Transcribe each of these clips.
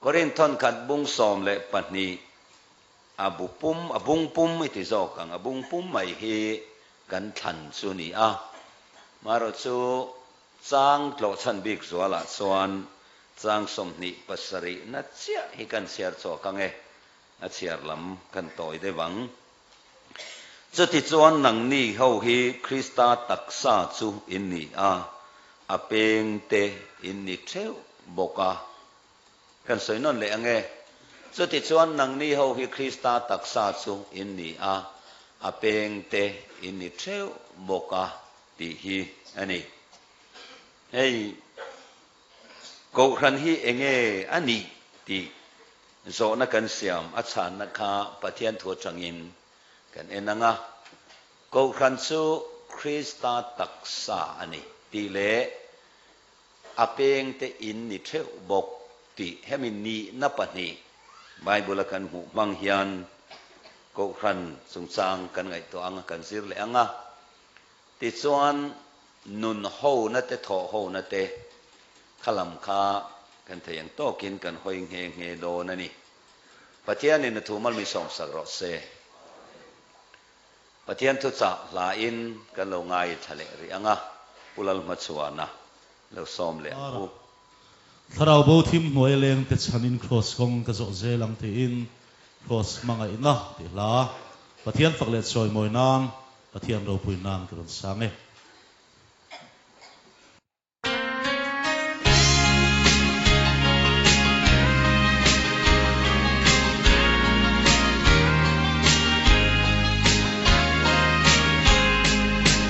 Korin thawnkhat bung sawm leh pahnih a bu pum, a bung pum i ti zawk ang, a bung pum mai hi kan thlan chu ni a, maherawhchu chang tlawh chhan bik zualah chuan chang sawmhnih pasarihna chiah hi kan chhiar chhuak ang e, A chhiar lam kan tawi deuh ang. Chuti chuan nang ni ho hi Krista taksa chu in ni a, a peng te in ni theuh bawk a. Kan sawi nawn leh ange? Chuti chuan nang ni ho hi Krista taksa chu in ni a, a peng te in ni theuh bawk a tih hi a ni. Hei! Kohhran hi eng nge a nih tih zawhna kan siam a chhanna kha Pathian thu atangin kan en ang a. Kohhran chu Krista taksa a ni tih leh a peng te in ni theuh bawk tih hemi nihna pahnih Bible-a kan hmuh hmang hian kohhran chungchang kan ngaihtuah ang a, kan zir leh ang a. Tichuan, nun hona te thaw hona te kha lam kha kan thei ang tawkin kan hawi nghe nghe dawn a ni. Pathianin a thu mal mi sawmsak rawh se. Pathian thuchah hlain kan lo ngai thla leh rih ang a, Pu Lalhmachhuana lo sawm leh ang u. Thlarau bo thim hnuaia lengte chhanin Kraws kawng ka zawh zel ang tiin Kraws hmangaihna tih hla, Pathian fak leh chawi mawi nan, Pathian ropui nan ka rawn sang e.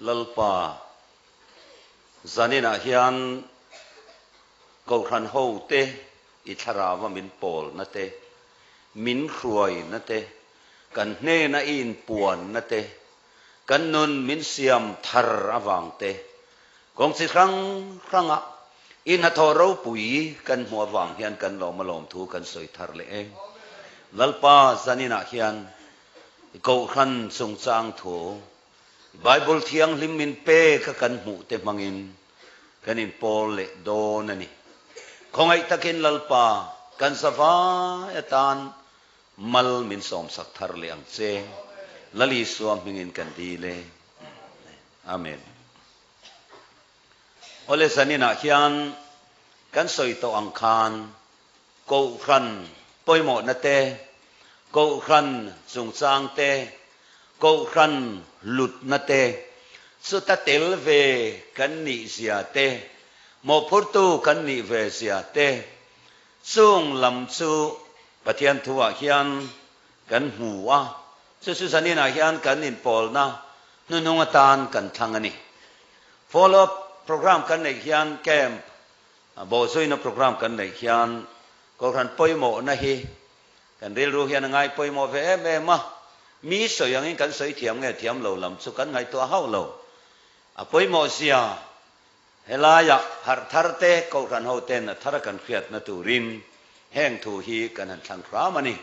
Lalpa zaninah hian Kohhran hote i thlarava min pawlna te, min hruaina te, kan hnena i inpuanna te, kan nun min siam thar avang te, kawng chi hrang hranga i hnathawh ropui kan hmuh avang hian kan lawma lawm thu kan sawi thar leh e. Lalpa zaninah hian I Kohhran chungchang thu Bible Thianghlim in peka kan hmuh te hmangin kan in pawl leh dawn a ni. Khawngaih takin Lalpa kan zavai atan mal min sawmsak thar leh ang che. Lal Isua hmingin kan dil e. Amen. Awle zaninah hian kan sawi tawh ang khan Kohhran pawimawhna te, Kohhran chungchang te, Kohhran lutna te, chuta tel ve kan nih zia te, mawhphurtu kan nih ve zia te, chung lam chu Pathian thuah hian kan hmu a, chu chu zaninah hian kan inpawlna hnuhnung atan kan thlang a ni. Follow up program kan neih hian camp Bawhzuina programme kan neih hian Kohhran pawimawhna hi kan rilru hian a ngai pawimawh ve em em a, mi sawi angin kan sawi thiam nge thiam lo lam chu kan ngaihtuah hauh lo. A pawimawhzia helaiah harh thar te Kohhran ho ten a thar a kan hriatna turin heng thu hi kan han thlang hram a ni.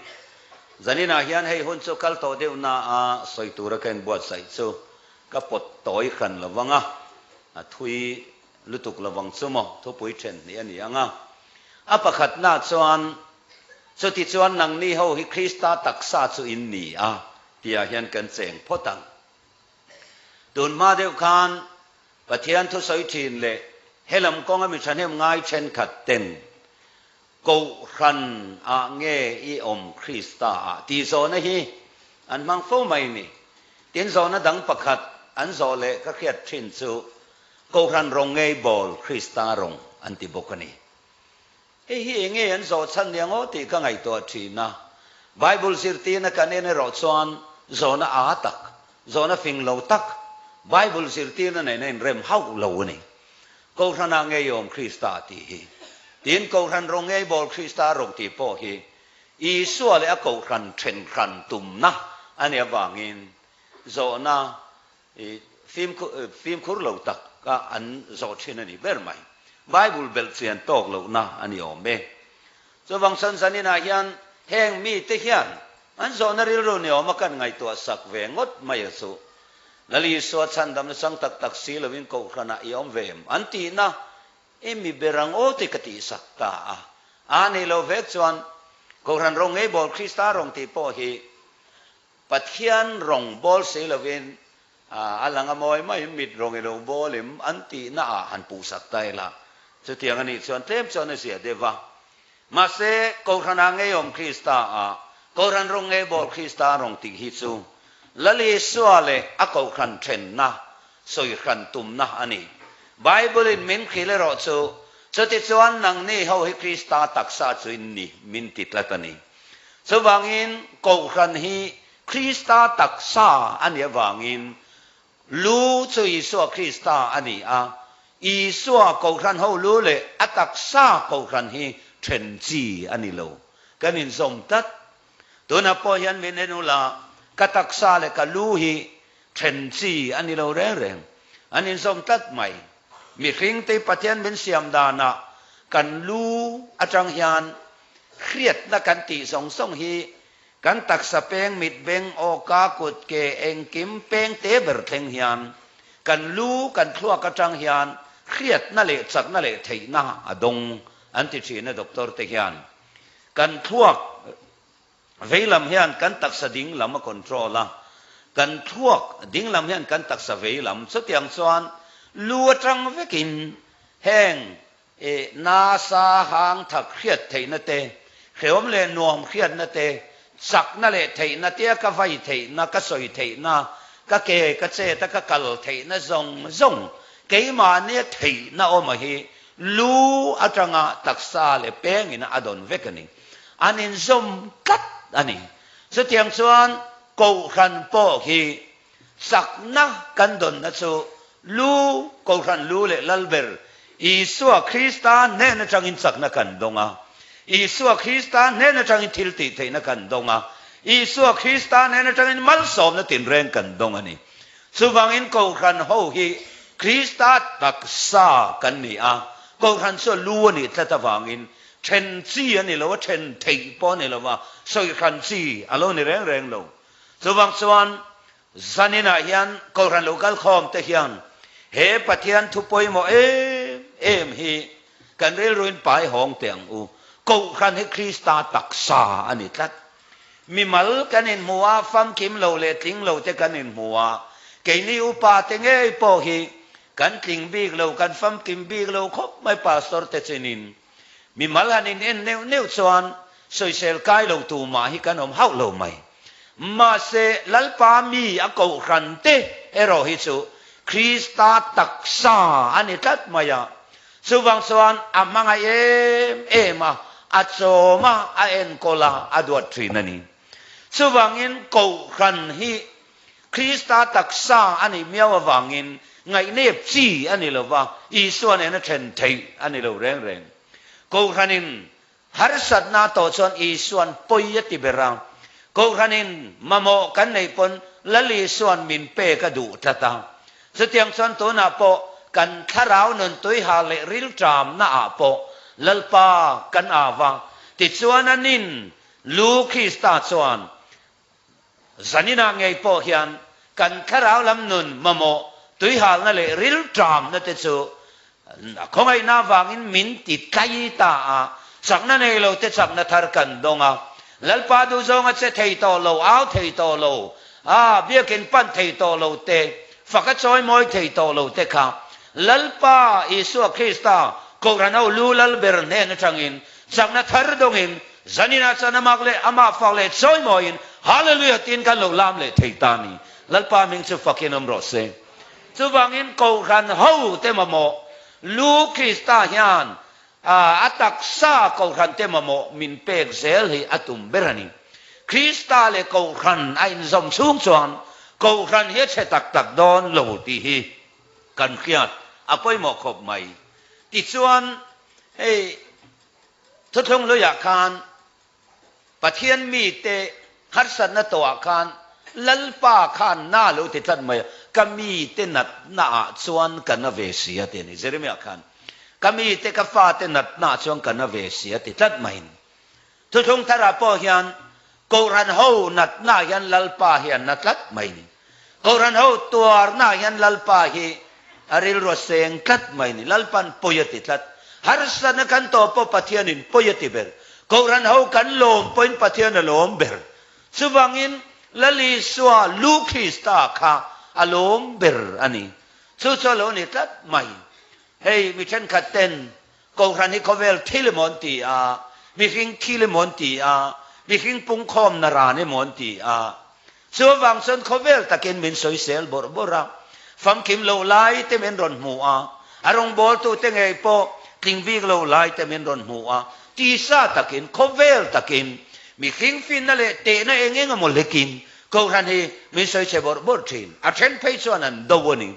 Zaninah hian hei hun chu kal tawh deuh na a sawi tura ka inbuatsaih chu ka pawt tawi hran lo vang a, a thui Lutuk lo vang chu maw thupui ṭhen hnih a ni ang a. A pakhatna chuan, Chuti chuan nang ni ho hi Krista taksa chu in ni a, tiah hian kan cheng phawt ang. Tun hma deuh khan, Pathian thusawi ṭhin leh he lam kawnga mi ṭhahnem ngai ṭhenkhat ten Kohhran ah nge i awm Krista ah? tih zawhna hi an hmang fo mai ni. Tin zawhna dang pakhat an zawh leh ka hriat ṭhin chu Kohhran rawng ngei bawl Krista rawng an ti bawk a ni. Hei hi eng nge an zawh chhan nia ngaw tih ka ngaihtuah thin a. Bible zirtirna kan en erawh chuan zawhna aa tak, zawhna fing lo tak Bible zirtirna nen a inrem hauh lo a ni. Kohhranah ngeiawm Krista a tih hi. Tiin Kohhran rawng ngei bawl Krista rawng tih pawh hi Isua leh a kohhran ṭhenhran tumna a nih avangin zawhna I fimkhur lo tak kha an zawh thin a nih ber mai. Bible belh fian tawk lohna a ni awm e. Chuvang sawn zaninah hian heng mite hian an zawhna rilru ni awm a kan ngaihtuah sak ve ngawt mai a chu. Lal Isua chhandam nachang tak tak si loin Kohhranah i awm ve em? an tihna i mi ber ang aw te ka tih sak ta a. Aa neih lo vek chuan Kohhran rawng ngeibawl Krista rawng tih pawh hi Pathian rawng bawl si lovin a lang a mawi mai, mit rawng i lo bawlim an tihna ah han puhsak ta ila, chutiang a nih chuan tlem chuan a ziah deuh va. Mahse, Kohhran ah ngeiawm Krista ah Kohhran rawng ngei bawl Krista rawng tih hi chu Lal Isua leh a Kohhran ṭhenna sawi hran tumna a ni. Bible in min khil erawh chu, chutichuan nangni ho hi Krista taksa chu in ni min ti tlat a ni. Chuvangin Kohhran hi Krista taksa a nih avangin lu chu Isua Krista a ni a, Isua Kohhran ho lu leh a taksa Kohhran hi ṭhenchi a ni lo. Kan inzawm tlat. Tunah pawh hian min en ula, ka taksa leh ka lu hi ṭhenchi a ni lo reng reng. An inzawm tlat mai. Mihringte Pathian min siam danah kan lu aṭang hian, hriatna kan tih zawng zawng hi kan taksa peng mitbeng awka kut ke engkim peng te ber thleng hian kan lu kan thluak atang hian hriatna leh chakna leh theihna a dawng an ti thin a doctor te hian kan thluak vei lam hian kan taksa ding lam a control a kan thluak ding lam hian kan taksa vei lam chutiang chuan lu atang vekin heng E. Nasa hangthak hriat theihna te, hreawm leh nuam hriatna te, chakna leh theihna te a ka vai theihna, ka sawi theihna, ka ke ka chet a ka kal theihna zawng zawng keimahnia theihna awmah hi lu atanga taksa leh pengin a dawn vek a ni. An inzawm tlat a ni. Chutiang chuan, Kohhran pawh hi Chakna kan dawnna chu lu, kohhran lu leh lal ber Isua Krista hnen atangin chakna kan dawng a. Isua Krista hnen atangin thil tih theihna kan dawng a. Isua Krista hnen atangin malsawmna tinreng kan dawng a ni. Chuvangin kohhran ho hi Krista taksa kan ni a. Kohhran chu a lu a nih tlat avangin then chi a ni lo a, then theih pawh a ni lo a, sawihran chi a lo ni reng reng lo. Chuvang chuan zaninah hian Kohhran lo kal khawm te hian he Pathian thu pawimawh em em hi kan rilruin pai hawng teh ang u. Kohhran hi Krista taksa a ni tlat. Mimal kan inhmu a, famkim lo leh tling lo te kan inhmu a, keini upa te ngei pawh hi kan tling bik lo, kan famkim bik lo khawp mai pastor te chinin. Mimal han in en neuh neuh chuan sawisel kai lo tu mah hi kan awm hauh lo mai. Mahse Lalpa mi a kohhran te erawh hi chu Krista taksa a ni tlat mai a, chuvang chuan a hmangaih em em a, a chawm a, a enkawl a, a duat thin a ni. Chuvangin kohhran hi Krista taksa a nih miau avangin ngaihnep chi a ni lo va, Isua nen a then theih a ni lo reng reng. Kohhranin harsatna tawh chuan Isuan pawi a ti ber a, kohhranin mamawh kan neih pawn Lal Isuan min pek a duh tlat a. Chutiang chuan tunah pawh kan thlarau nun tuiha leh rilṭamna ah pawh Lalpa kan au a, tichuan a nin lu Krista chuan Zanina ngei pawh hian kan thlarau lam nun mamawh tuihalna leh rilṭamna te chu a khawngaihna avangin min ti tlai ta a, chakna nei lo te chakna thar kan dawng a, Lalpa duh zawnga che thei tawh lo, au thei tawh lo, a biakin pan thei tawh lo te, faka chawi mawi thei tawh lo te kha Lalpa Isua Krista Kohhran ho Lu Lal ber hnen aṭangin Chakna thar dawngin Zanina chuan a mak leh amah fak leh chawi mawiin Hallelujah tiin kan lo lam leh thei ta ni. Lalpa hming chu fakin awm rawh se. Chuvangin Kohhran ho te mamawh lu Krista hian a taksa Kohhran te mamawh min pek zel hi a tum ber a ni. Krista leh Kohhran a inzawm chhung chuan Kohhran hi a chhe tak tak dawn lo tih hi kan hriat a pawimawh khawp mai. Tichuan Hei thuthlung luiah khan Pathian mite harsatna tawhah khan Lalpa khan na lo ti tlat mai a, ka mite natna ah chuan ka na ve si a ti a ni. Jeremiah khan, Ka mite ka fate natna ah chuan ka na ve si a ti tlat mai a ni. Thuthlung tharah pawh hian Kohhran ho natnaah hian Lalpa hi a na tlat mai ni. Kohhran ho tuarnaah hian Lalpa hi a rilru seng tlat mai ni. Lalpa'n pawi a ti tlat. Harsatna kan tawh pawh Pathianin pawi a ti ber. Kohhran ho kan lawm pawhin Pathian a lawm ber. Chuvangin Lalisua Lukrista kha a lawm ber a ni. Chu chu a lo ni tlat mai. Hei mi thenkhatten Kohhran hi khawvel thil emaw an ti a, mihring thil emaw an ti a, mihring pungkhawmna ran emaw an ti a, chu avang chuan khawvel takin min sawisel bawrh bawrh a, famkim loh lai te min rawn hmu a, a rawngbawltute ngei pawh tlingbik loh lai te min rawn hmu a, tisa takin khawvel takin mihring finna leh tehna eng eng emaw hlekin Kohhran hi min sawi che bawrh bawrh thin, a then phei chuan an do a ni.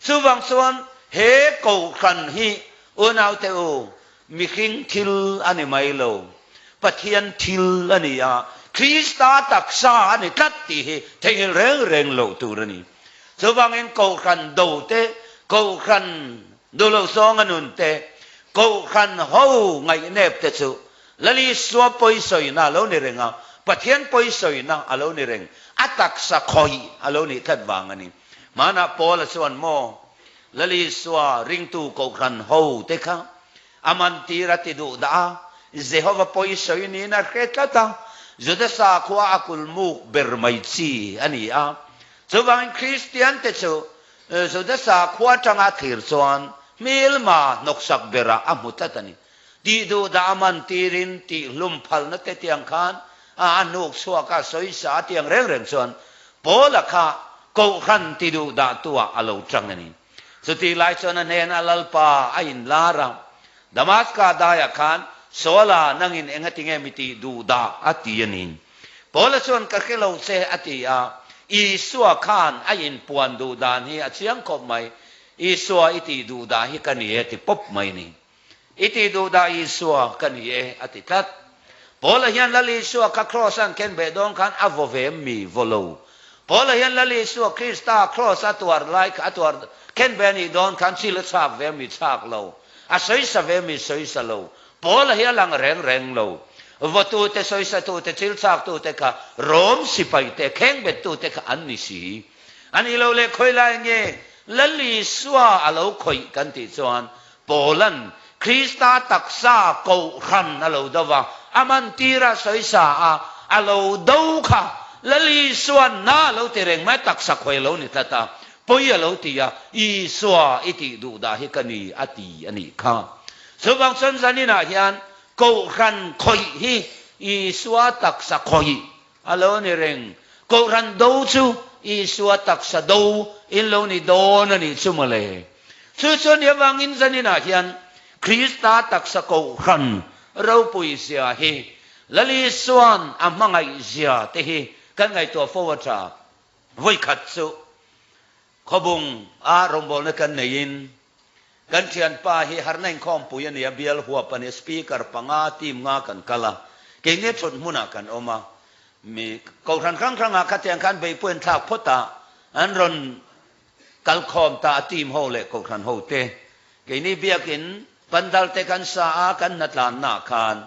Chuvang chuan he Kohhran hi O naute o, mihring thil a ni mai lo, Pathian thil a ni a, Krista taksa a ni tlat tih hi theihngilh reng reng loh tur a ni. Chuvangin Kohhran do te, Kohhran duh loh zawnga nun te, Kohhran ho ngaihnep te chu Lalisua pawi sawina a lo ni reng a, Pathian pawi sawina a lo ni reng, a taksa khawih a lo nih tlat vang a ni. Hmanah Paula chuan maw? Lalisua ringtu kohhran ho te kha a mantîr a ti duh dah a, Jehova pawi sawi niin a hre tlat a, Juda sakhua a kulmuk ber mai chi a ni a. Chuvangin Kristiante chu Juda sakhua ṭanga thlir chuan hmilma hnawksak berah a hmu tlat a ni. Tih duh dah man tir in tih hlum phal na te tiang khan a a nuk chhuak a sawi sa a tiang reng reng chuan Paul a kha Kohhran ti duh dah tu ah a lo tang a ni. Chu tih lai chuan a hnen a lalpa a in lar a. Damaska dai ah khan Saul a nang in eng a ti nge mi tih duh dah a ti a ni. Paul a chuan ka hre lo che a ti a. Isua khan a in puan duh dan hi a chiang khawp mai. Isua i tih duh dah hi ka ni e a ti pawp mai a ni. I tih duh dah Isua ka ni e, a ti tlat. Paula hian Lal Isua ka Kraws a an ken beh dawn khan a vawve mi vawlo. Paula hian Lal Isua Krista Kraws a tuar lai kha a tuar ken beh a nih dawn khan chil a chhak ve mi chhak lo, a sawisa ve mi sawisa lo. Paula hi a lang reng reng lo. Vawtute, sawisatute, chil chaktute kha Rome sipaite, kheng bet tute kha an ni si. A nih lo le khawilai nge Lal Isua a lo khawih kan tih chuan Paula'n Krista taksa kohhran a lo do va, a mantira sawi sa a, a lo do kha lalisuanna a lo ti reng mai, taksa khawi a lo ni tlat a, pawi a lo ti a, Isua i tih duh dah hi ka ni a ti a nih kha. Chuvang chawn zaninah hian kohhran khawih hi Isua taksa khawih A lo ni reng. Kohhran do chu Isua taksa do in lo ni dawn a nih chu mawle. Chu chuan ni avangin zaninah hian Krista taksa kohhran ropui zia hi Lali suan a hmangaih zia te hi kan ngaihtuah fo a ta. Vawikhat chu Khawbung a rawngbawlna kan neiin kan thianpa hi harna inkhawmpui a ni a, bial huap a ni, speaker panga, team nga kan kal a, kei nge thut hmunah kan awm a, mi kohhran hrang hrangah khatiang khan beipui an thlak phawt a, an rawn kalkhawm ta a, team ho leh kohhran ho te. Keini biakin pandal te kan sa a, kan hna tlanna khan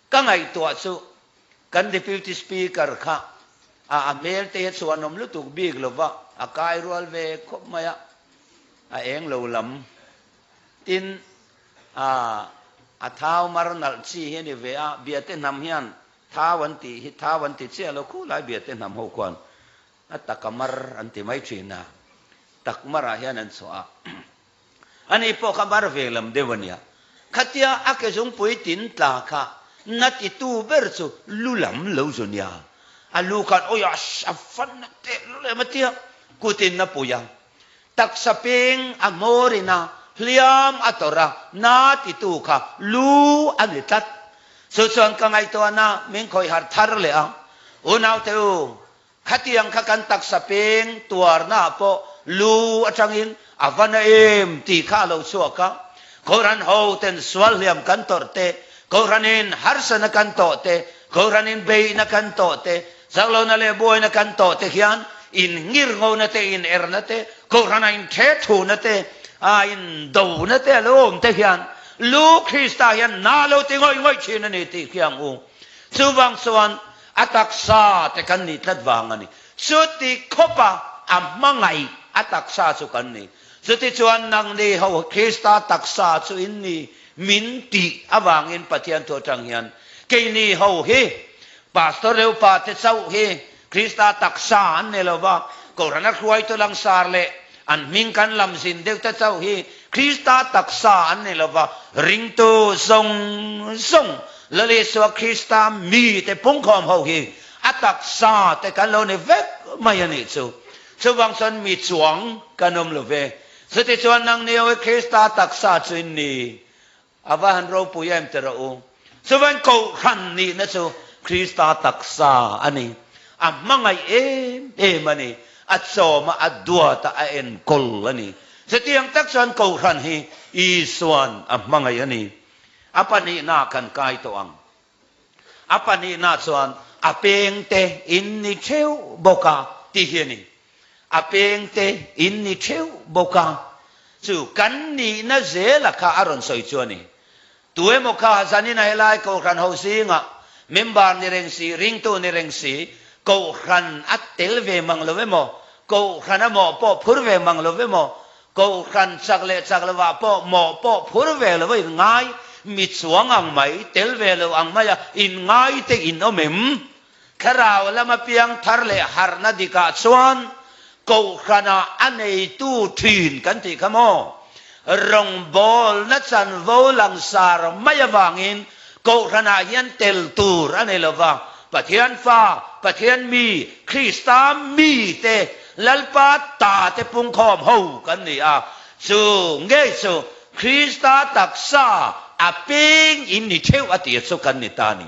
Ka ngaihtuah chu kan Deputy Speaker kha a a hmel te hi chhuanawm lutuk bik lova a kai rual ve khawp mai a, a eng lo lam tin ah a thau mar nalh chi hi a ni ve a, Biate hnam hian thau an tih hi thau an ti chiah lo khu lai Biate hnam ho khuan a taka mar an ti mai thin a, tak marah hian an chhuah a. Ani pawh ka var ve lam deuh a nia. Khatia a ke zungpui tin tla kha na titu ber chu lu lam lo zu nia. A lu khan awia a fan a teh lo lem a tia kut in na pui a. Taksa peng a ngawr in a hliam a tawrh a, na titu kha lu a ni tlat. Chu chuan ka ngaihtuahna min khawih harh thar leh a. Unaute u, Khatiang kha kan taksa peng tuarnaah pawh lu atangin a va na em tih kha a lo chhuak a, Kohhran hoten sual hliam kan tawrh te, Kohhranin harsana kan tawh te, Kohhranin beihna kan tawh te, zaklona leh buaina kan tawh te hian inngir ngona te, inerna te, Kohhrana inthe thuna te, a indona te a lo awm te hian lu Krista hian nahlo ti ngawih ngawih thin a ni tih khi ang u. Chuvang chuan A taksa te kan nih tlat vang a ni. Chuti khawpa a hmangaih a taksa chu kan ni. Chutichuan nang ni ho Krista taksa chu in ni min tih avangin Pathian thu atang hian kei ni ho hi Pastor Reupate chauh hi Krista taksa an ni lova, Kohhran a hruaitu langsar leh An hming kan lam zin deuh te chauh hi Krista taksa an ni lo va, ringtu zawng zawng Lal Isua Krista mite pungkhawm ho hi a taksa te kan lo ni vek mai a nih chu. Chuvang chuan mi chuang kan awm lo ve. Chutichuan nang ni ho hi Krista taksa chu in ni A va han ropui em ti rawh u. Chuvain Kohhran nihna chu Krista taksa a ni. A hmangaih em em a ni. A chawm a, a duat a, a enkawl a ni. Chutiang tak chuan Kohhran hi Isua'n a hmangaih a ni. A Pahnihna kan kai tawh ang. A panihna chuan a pengte in ni theu bawk a tih hi a ni. A pengte in ni theu bawk a, chu kan nihna zela kha a rawn sawi chu a ni. Tu emaw kha zanina helai Kohhran ho zinga member ni reng si, ringtu ni reng si, Kohhran a tel ve mang lo emaw, Kohhran amaw pawh phur ve mang lo emaw, Kohhran chak leh chak lovah pawh mawh pawh phur ve lova in ngai, mi chuang ang mai, tel ve lo ang maia in ngai te in awm em? Thlarau lama piang thar leh harhna dikah chuan Kohhrana a neitu thin kan tih kha maw? Rawngbawlna chanvo langsar mai avangin Kohhranah hian tel tur a nei lo va, Pathian Fa, Pathian Mi, Krista Mi te, Lalpa Ta te pungkhawm ho kan ni a. Chu ngei chu Krista taksa a peng in ni theuh a tir chu kan ni ta ni.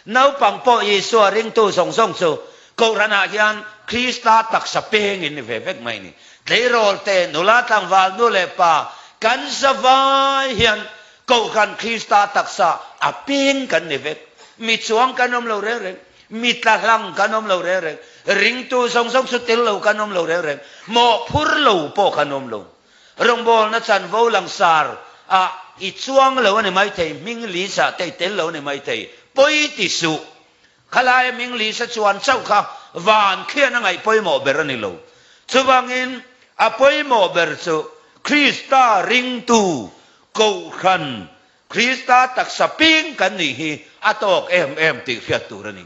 Naupang pawh Isua ringtu zawng zawng chu Kohhranah hian Krista taksa peng in ni ve vek mai ni. Tleirawl te, nula tlangvalnu leh pa kan zavai hian Kohhran Krista taksa a peng kan ni vek. Mi chuang kan awm lo reng reng, mi tla hlang kan awm lo reng reng, ringtu zawng zawng chu tel lo kan awm lo reng reng, mawhphur lo pawh kan awm lo. Rawngbawlna chanvo langsar ah i chuang lo a ni maithei, hming lisa te i tel lo a ni maithei, pawi ti suh. Khalaia Minglisa chuan chauh kha van khian a ngaih pawimawh ber a ni lo. Chuvangin a pawimawh ber chu Krista ringtu, Kohhran, Krista taksa ping kan nih hi a tawk em em tih hriat tur a ni.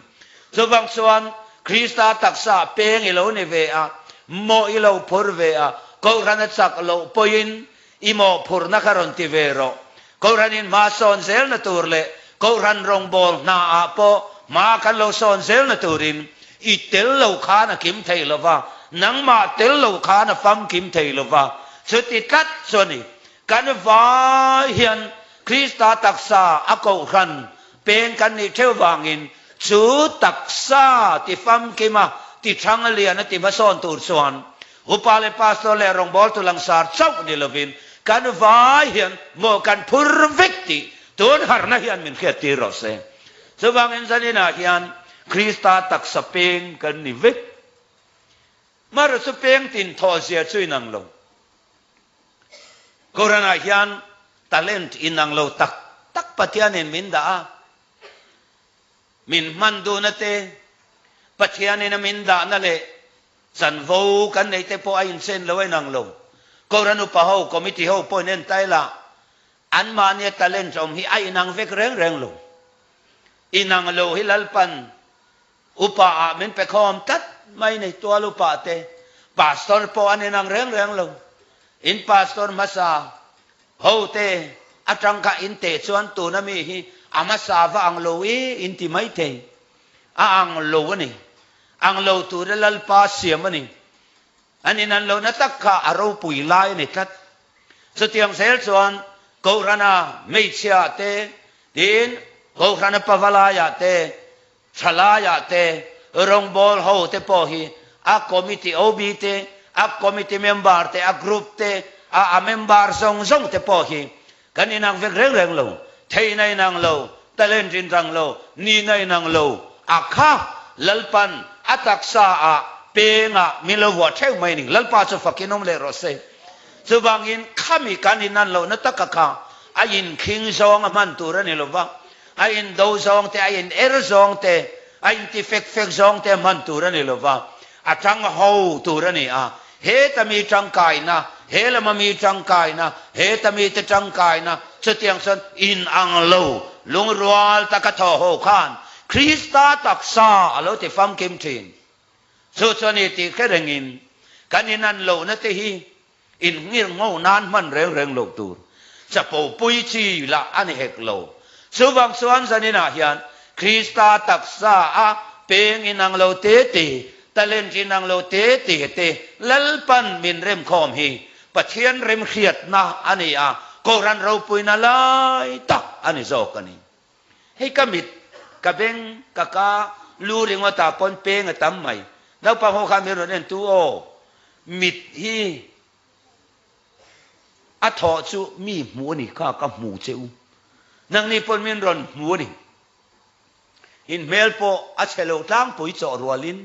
Chuvang chuan Krista taksa peng i lo ni ve a, mawh i lo phur ve a, Kohhran a chak loh pawhin I mawhphurhna kha rawn ti ve rawh. Kohhranin hma sawn zelna tur leh kohhran rawngbâwl hnaah pawh hma kan lo sawn zelna turin i tel lo khan a kim thei lo va, nangmah tel lo khan a famkim thei lo va. Chuti tlat chu a ni. Kan vai hian Krista taksa a kohhran peng kan nih theu vangin chu taksa ti famkima, ti ṭhanga liana ti hma sawn tur chuan Upa leh Pastor leh rawngbâwl tu langsar chauh ni lovin kan vai hian mawh kan phur vek tih tûn harhna hi an min hriattir rawh se. Chuvângin zaninah hian Krista taksa pêng kan ni vek. Maruchu pêng tin thawhzia chu inang lo. Koranah hian talent inang lo tak tak Pathianin min dah a. Min hman duhna te, Pathianin a min dahna leh chanvo kan neih te pawh a inchen lo a inang lo. Kora nupa ho, committee ho pawhin entai la, anmahnia talent awm hi a inang vek reng reng lo. Inang lo hi Lalpan upa ah min pe khawm tlat mai ni, tual upa te, pastor pawh an inang reng reng lo. In pastor hmasa, Hote atang kha in teh chuan tuna mi hi a hmasa va ang lo e in ti maithei. A ang lo a ni. Ang lo tura Lalpa siam a ni. An in an lo na tak kha a ropui lai a ni tlat. Chutiang zel chuan Kohrana hmeichhia te tiin Kohrana pavalai ah te Thalaiah te, rawngbâwl ho te pawh hi a committee OB te, a committee member te, a group te, a a member zawng zawng te pawh hi kan inang vek reng reng lo, theihna inang lo, talent inrang lo, nihna inang lo a kha. Lalpan a taksa ah pênga min lo vuah theuh mai ning, Lalpa chu fakin awm leh rawh se. Chuvangin khami kan innan lohna taka kha a inkhing zawng a hman tur a ni lova. a in do zawng te, a in er zawng te, a in ti fek fek zawng te hman tur a ni lo va, a tang ho tur a ni a, heta mi tangkaina, he lama mi tangkaina, heta mite tangkaina, chutiang chuan in ang lo, lungrual taka thaw ho khan Krista taksa a lo ti famkim thin. Chu chuan i tih kherengin kan in an lohna te hi In ngir ngo nan hman reng reng lo tur chapo pui chi lah a ni hek lo. Chu vang chuan zanin ah hian Krista taksa a peng inang lo te te, talent inang lo te te te lalpan min rem khawm hi Pathian remhriatna a ni a, Kohhran ropuina lai tak a ni zawk a ni. Hei ka mit, ka beng, ka ka, lu ringawtah pawn peng a tam mai. Naupang ho kha min rawn en tu aw. Mit hi a thawh chu mi hmu a ni kha ka hmu che u. Nang ni pawn min rawn hmu a ni. In hmel pawh a chhe lo tlangpui chawh rualin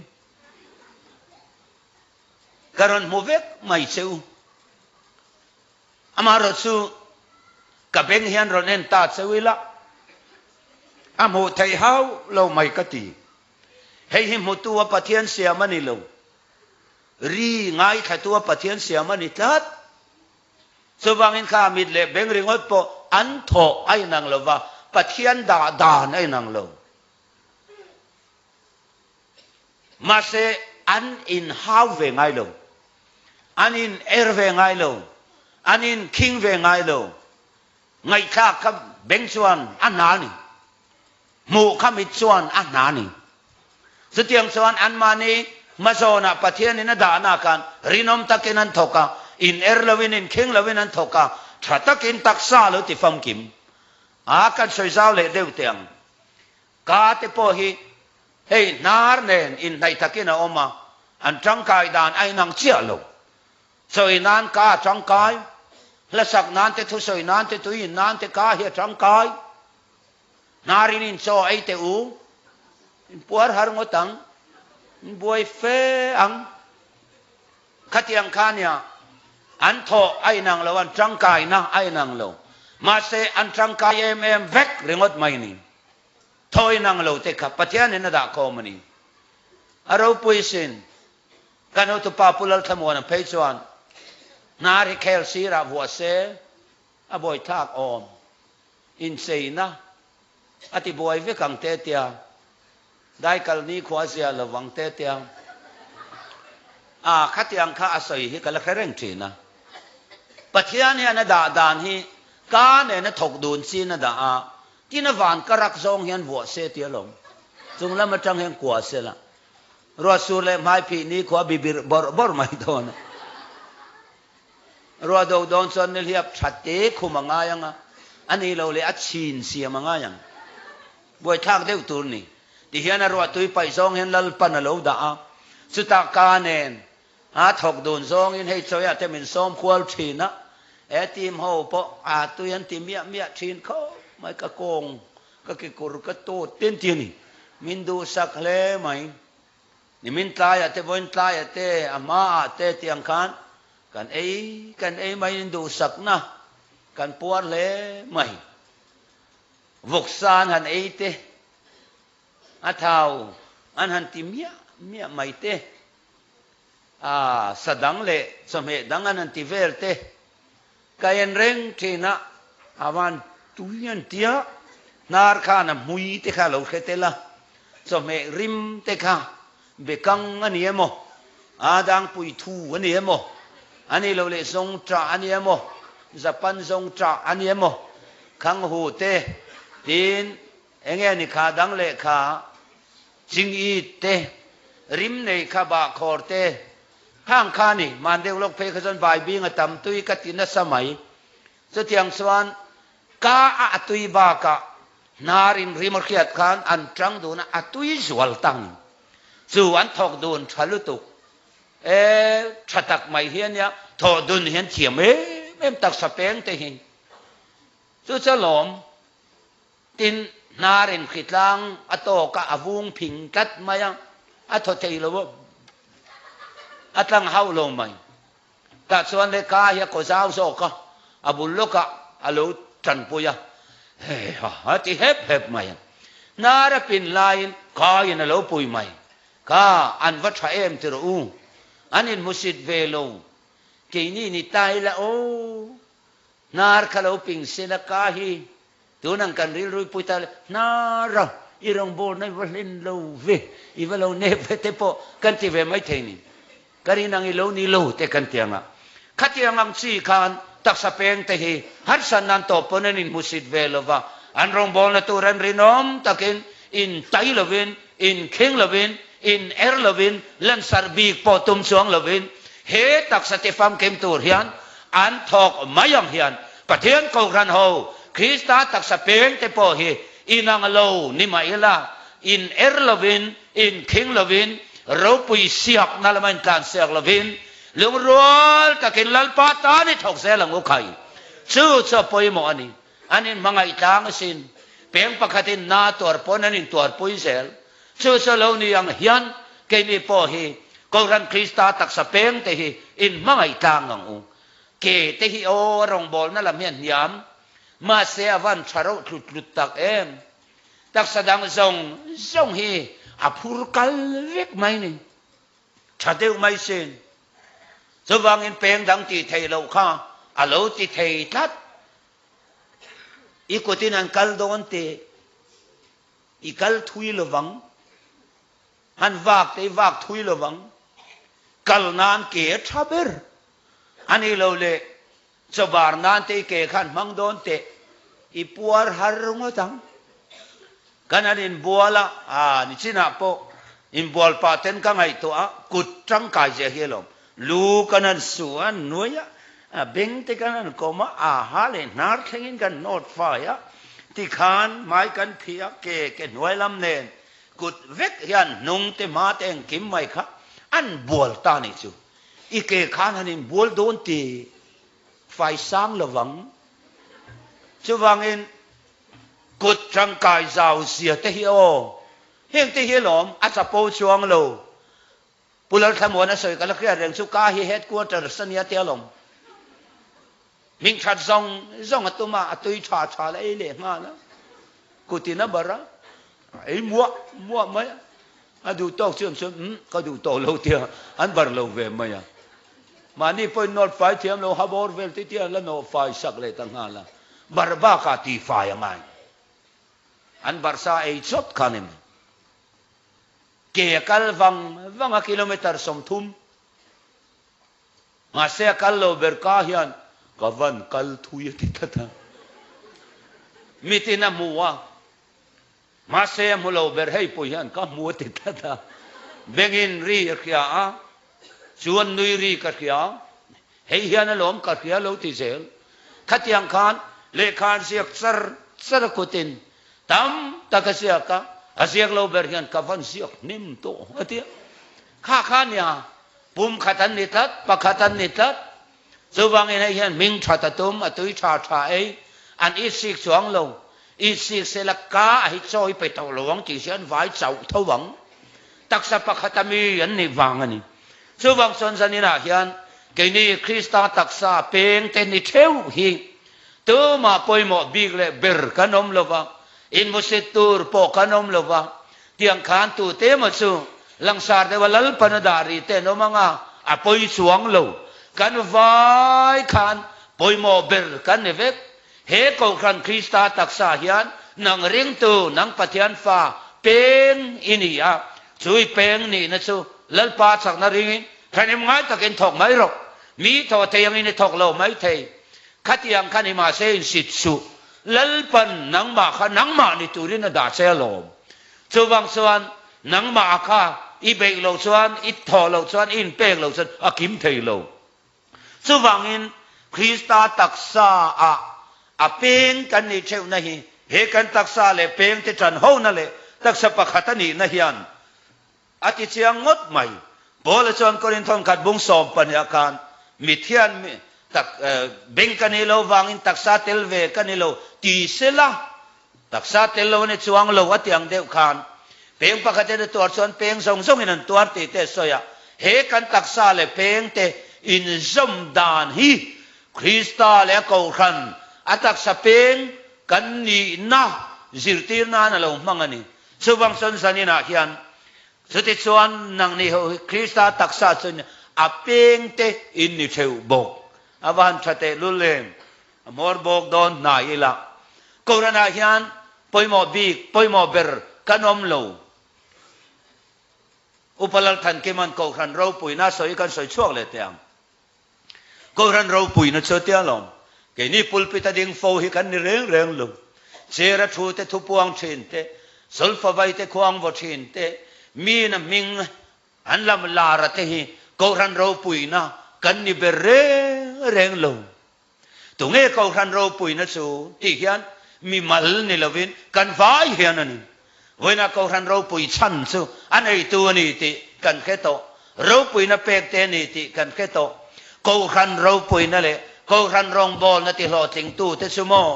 ka rawn hmu vek mai che u. Amaherawh chu ka beng hian rawn en ta cheu ila, a hmuh theih hau lo mai ka ti. Hei hi hmutu a Pathian siam a ni lo, ri ngaithatu a Pathian siam a ni tlat. Chuvangin kha a mit leh beng ringawt pawh an thawh a inang lova, Pathian dah dan a inang lo. Mahse, an inhau ve ngai lo, an in-er ve ngai lo, an inkhing ve ngai lo. Ngaihthlak kha beng chuan a hna a ni, hmuh kha mit chuan a hna a ni. Chutiang chuan anmahni hma zawnah Pathianin a dahna khan rinawm takin an thawk a, in-er loin, inkhing loin an thawk a, tha takin taksa a lo ti famkim. A kan sawi zau leh deuh teh ang. Ka te pawh hi hei hnar nen inhnaih takin a awm a, an tangkai dan a inang chiah lo. Chawi nan ka a tangkai, hlasak nan te thusawi nan te tui in nan te ka hi a tangkai. Hnarin in chaw ei teh u, in puar har ngawt ang, in buai fe ang. Khatiang kha nia an thawh a inang lo, an tangkaina a inang lo, mahse an tangkai em em vek ringawt mai ni. Thawiin ang lo te kha Pathianin a dahkhawm a ni. A ropui sin, ka nutu pa Pu Lalthlamuana phei chuan hna ri khel sirah vuah se a buaithlak awm incheina a tibuai vek ang te tia Dai kal nikhua zia lo vang te tiang a khatiang kha a sawi hi ka la hre reng thin a. Pathian hian a dah dan hi ka nena thawk dun chin a dah a, tina van ka rak zawng hian vuah se tia lo. Chung lam atang hian kua se la. Ruat sur leh hmai phih nikhua bibirh bawrh bawrh mai dawn a. Ruah do dawn chuan nihliap that te khum a ngai ang a, a ni lo leh a chhin siam a ngai ang. Buaithlak deuh tur ni ti hian a ruah tui paih zawng hian lalpan a lo dah a, chuta ka nen a thawk dun zawngin hei chawia te min sawm hual thin a, he team ho pawh a tui an ti miah miah thin kho mai, ka kawng ka kekur ka tut tin ti a ni, min duhsak hle mai, nimin tlaia te vawiin tlaia te a hmaah te tiang khan kan ei kan ei maiin duhsakna kan puar hle mai. Vawksan han ei te, a thau an han ti miah miah mai te, a sa dang leh chawhmeh dang an han ti vel te, ka en reng thin a, a van tui an ti a, hnar khan a hmui te kha a lo hre tel a, chawhmeh rim te kha Bekang a ni emaw? Aa dang pui thu a ni emaw? A nih loh leh zawng tah a ni emaw? Zapan zawng tah a ni emaw? Khang hu te tiin eng nge ni kha dang leh kha ching it te, rim nei kha bah khawr te, hang kha ni, mandeuhlawk phei kha chuan baibinga tam tui ka ti nasa mai, Chutiang chuan ka a a tui bakah hna rinrim hriat khan an chang dun a, a tui zual tang in chu an thawk dun tha lutuk. E, tha tak mai hian nia, thawh dun hian thiam em em taksa peng te hi. Chu cha lawm tin hna rin hri tlang a tawk a, a vung phing tlat mai a, a thaw thei lo a, a tlang hauh lo mai. Tah chuan lehkha hi a kaw zau zawk a, a bul lawkah a lo tanpui a, hei ha a ti hep hep mai a. Hnar a pin laiin kaiin a lo pui mai. Ka, an va tha em ti rawh u, an in hmusit ve lo, keini ni tai la aw, hnar ka lo ping sin a ka hi, Tun ang kan rilrui pui ta le hna ra, i rawngbawr na i va hlen lo ve, i va lo nep ve te pawh kan ti ve mai thei nin ka rin ang i lo ni lo te kan ti ang a. Khatiang ang chi khan taksa peng te hi harsan nan tawp pawn an in hmusit ve lo va, an rawngbawlna tur an rinawm takin, In tai lovin, in kheng lovin, in er lovin, lansar bik pawh tum chuang lovin he taksa te famkim tur hian an thawk mai ang hian Pathian Kohhran ho Krista taksa peng te pawh hi inang lo ni mah ila, in er lovin, in kheng lovin, ropui siakna lama intlansiak lovin lungrual takin Lalpa tan i thawk zel ang u khai. Chu chu a pawimawh a ni. An in hmangaih tlang asin, peng pakhatin na tuar pawn an in tuar pui zel. Chu saw lo ni ang hian keini pawh hi Kohhran Krista taksa peng te hi in hmangaih tlang ang u. Ke te hi aw a rawngbawlna lam hian hniam, mahse a van tha reuh tlut tlut tak em. Taksa dang zawng zawng hi a phur kal vek mai ni. Tha deuh mai sin. Chuvangin peng dang tih theih loh kha a lo ti thei tlat. I kutin an kal dawn teh. I kal thui lovang. Han vak teh i vak thui lovang. Kal nan ke tha ber a ni lo le. Chawvar nan te i ke khan hmang dawn teh, i puar har ringawt ang. Kan han inbual a, aa, nichinah pawh inbual pah ten ka ngaihtuah a, kut tangkai ziah hi alawm. Lu kan han su a, an nuai a, a beng te kan han kawm a, aaha leh hnar thlengin kan nawt fai a, tikhan hmai kan phih a, ke ke hnuai lam nen kut vek hian hnung te hma te engkim mai kha an bual ta nih chu. I ke khan han inbual dawn ti fai sang lo vang. Chuvangin kut tangkai zau zia te hi aw, heng te hi alawm, a chapo chuang lo. Pu Lalthlamuana sawi ka la hriat reng chu ka hi headquarters a nia te alawm. Hming that zawng zawng a tum a, a tui tha tha la, ei leh nghal a, kut in a bar a, a ei muah muah mai a, a duh tawk chu em chuan umm ka duh tawh lo tia an bar lo ve mai a, mahni pawhin nawlh fai thiam lo, habawr vel te tian la nawh fai sak leh ta nghal a, bar bak ah ti fai a ngai lo, an bar sa a ei chawt khan em em, ke a kal vang vang a kilometre sawmthum. Mahse a kal lo ber ka hian ka van kal thui a ti tlat a. Mitin a hmu a, mahse a hmu lo ber hei pawh hian ka hmu a ti tlat a. Bengin ri a hria a, chuan nui ri ka hria. Hei hian a lawm ka hria lo ti zel. Khatiang khan lehkha an ziak char char a kutin tam tak a ziak a, a ziak lo ber hian ka van ziak hnem tawh a ti a. Kha kha nia Pum khat an ni tlat, pakhat an ni tlat. Chuvangin hei hian hming that a tum, a tui tha tha ei. An i sik chuang lo. I sik sela ka a hi chawi pe tawh lo ang tih hi an vai chauh tho ang. Taksa pakhata mi an nih vang a ni. Chuvang chuan zaninah hian keini Krista taksa peng te ni theuh hi tumah pawimawh bik leh ber kan awm lo va, inmusit tur pawh kan awm lo va, Tiang khan tute emaw chu Langsar deuha Lalpan a dah ri ten awm anga a pawi chuang lo. Kan vai khan pawimawh ber kan ni vek. He Kohhran Krista taksa hian nang ringtu nang Pathian fa peng i ni a, chu i peng nihna chu Lalpa a chakna ringin thahnem ngai takin thawk mai rawh. Mi thaw thei angin i thawk lo mai thei. Khatiang khan i mahse in sit suh. Lalpan, nangmah kha nangmah ni turin a dah che alawm. Chuvang chuan nangmah a kha i beih lo chuan, i thawh lo chuan, i inpek lo chuan a kim thei lo. Chuvangin Krista taksa ah a peng kan nih theihna hi he kan taksa leh pengte ṭanhona leh taksa pakhat a nihna hian A tichiang ngawt mai. Paula chuan Korin thawnkhat bung sawm pahniha khan, Mithian mi tak beng ka nih lo vangin taksa tel ve ka ni lo ti se la, taksa tel lo ania chuang lo a ti ang deuh khan, peng pakhat in a tuar chuan peng zawng zawng in an tuar tih te sawi a, he kan taksa leh peng te inzawm dan hi Krista leh a Kohhran a taksa peng kan nihna zirtir nan a lo hmang a ni. Chuvang sawn zaninah hian, Chutichuan nang ni ho hi Krista taksa chuan a pengte in ni theu bawk. A va han tha teh lul lem, a hmawr bawk dawn hna ila. Koranah hian pawimawh bik, pawimawh ber kan awm lo. Upa Lalthankiman kohhran ropuina sawi hi kan sawi chhuak leh teh ang. Kohhran ropuina chu a tia lawm. Keini pulpit a ding fo hi kan ni reng reng lo. Chera thu te, thupuang thin te, Sawlfavai te, Khuangvaw thin te, mina hming an lam lara te hi Kohhran ropuina kan ni ber reng reng lo. Tunge Kohhran ropuina chu tih hian mimal ni lovin kan vai hian a ni. Vawiinah Kohhran ropui chhan chu a neitu a ni tih kan hre tawh, ropuina pekte a ni tih kan hre tawh, Kohhran ropuina leh Kohhran rawngbawlna tihlawhtling tute chu maw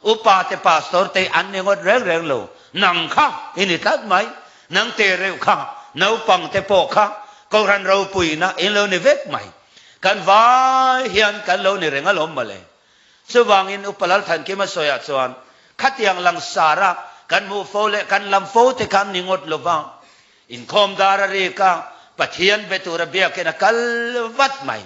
Upa te Pastor te an ni ngawt reng reng lo, nang kha i ni tlat mai, nang te reuh kha naupang te pawh kha kohhran ropuina in lo ni vek mai, kan vai hian kan lo ni reng alawm mawle. Chuvangin Upa Lalthankima sawiah chuan khatiang langsara kan hmuh fo leh kan lam fo te kha an ni ngawt lova, inkhawm dar a rik a, Pathian be tura biakin a kal vat mai.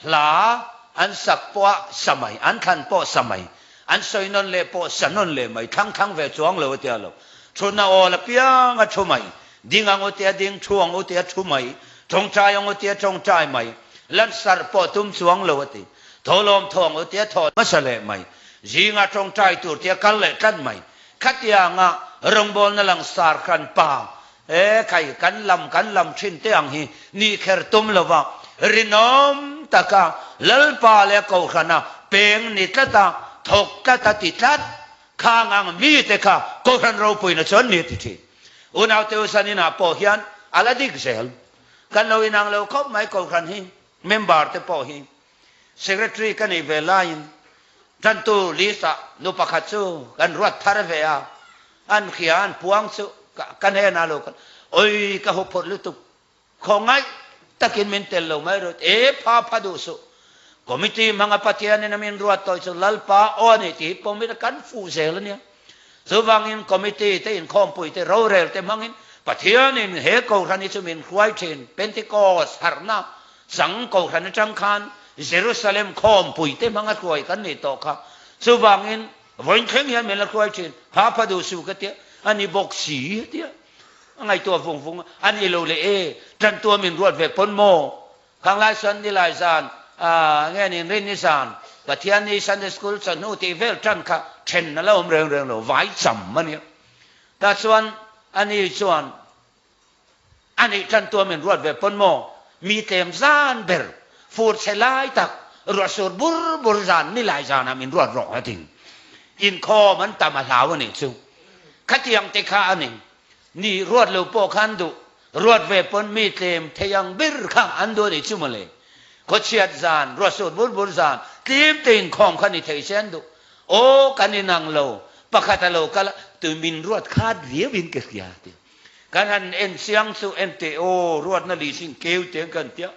Hla an sak pawha sa mai, an thlan pawh sa mai, an sawi nawn leh pawh sa nawn leh mai, thlang thlang ve chuang lo a tia lo. Thu na awl apiang a thu mai, ding ang u tia ding, thu ang u tia thu mai, tawngtai ang u tia tawngtai mai, lansar pawh tum chuang lo a ti. Thaw lawmthaw ang u tia thaw hmasa leh mai, zingah tawngtai tur tia kal leh tlat mai, khatianga rawngbawlna langsar khan pa He kai kan lam kan lam thin te ang hi ni kher tum lo va, rinawm taka Lalpa leh Kohrana peng ni tlat a, thawk tlat a ti tlat kha angang mi te kha Kohhran ropuina chuan mi a ti thin. Unaute u Sanina pawh hian a la dik zel. Kan lo inang lo khawp mai Kohhran hi member te pawh hi. Secretary ka nih ve laiin tantu list ah nu pakhat chu kan ruat thar ve a, an hria an puang chu ka hnenah lo kal awi ka hu phawrh lutuk, khawngaih takin min tel lo mai rawt e, pha pha duh suh, committee hmanga Pathianin a min ruat tawi chu Lalpa aw a ni tih hi pawimit a kan fuh zel ania. Chuvangin committee te inkhawmpui te rorel te hmangin Pathianin he Kohhran hi chu min hruai thin, Pentecost harhna sang Kohhran atang khan Jerusalem khawmpui te hmanga hruai kan nih tawh kha. Chuvangin vawiin thleng hian min la hruai thin, Phapha duh su ka tia, a ni bawk si tia a ngaihtuah vung vung a, a ni lo leh e, tantua min ruat ve pawn maw? Khanglai chuan nilai zan aah nge nin rin nizan Pathian ni Sunday school chawhnu tih vel tan kha then a lo awm reng reng lo vai cham a nia. Tah chuan a ni chuan a nih tan tua min ruat ve pawn maw mi tlem zan ber fur chhe lai tak ruah sur bur bur zan nilai zan ah min ruat rawh a tin inkhawm an tam a hlau a nih chu khatiang te kha a ni. Ni ruat lo pawh khan duh ruat ve pawn mi tlem thei ang bir kha an duh anih chu mawle. Khawchhiat zan, ruatsut bur bur zan, tlim te inkhawm kha ni thei se an duh. Aw kan inang lo, pakhat a lo kal a, tui min ruat khat viau in ka hria tih a. Kan han en chiang chu ente aw ruatna li sin keu teng kan ti a.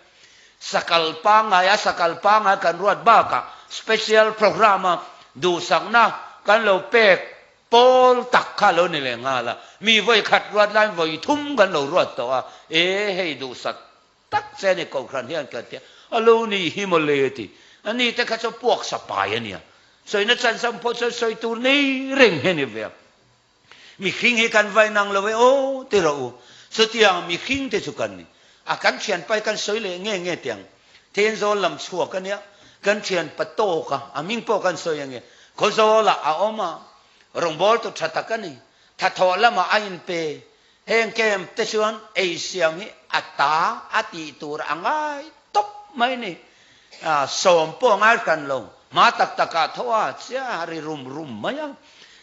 Sakal pangai a sakal pangai kan ruat bakah special program a duhsakna kan lo pek Pawl tak kha lo ni leh nghal a, mi vawi khat ruat laiin vawi thum kan lo ruat tawh a, e hei duhsat tak che ani kohhran hian kan ti a, a lo ni hi maw le a ti. A ni te kha chuan puaksa pai a nia, sawina chansam pawh chuan sawi tur nei reng hi a ni ve a, mi hring hi kan va inang lo e aw ti rawh u, chutianga mi hring te chu kan ni a, a kan thian pai kan sawi leh nge nge tiang. Then zawl lam chhuak a nia, kan thianpa tawk a, a ming pawh kan sawi ange. Khawzawlah a awm a, rawngbâwl tu ṭha tak a ni. Thathawh lamah a inpe. Heng camp te chuan ei siam hi a ta a tih tur a ngai tawp mai a ni. Sawm pawh a ngai hran lo, hma tak takah thaw a chia ri rum rum mai a,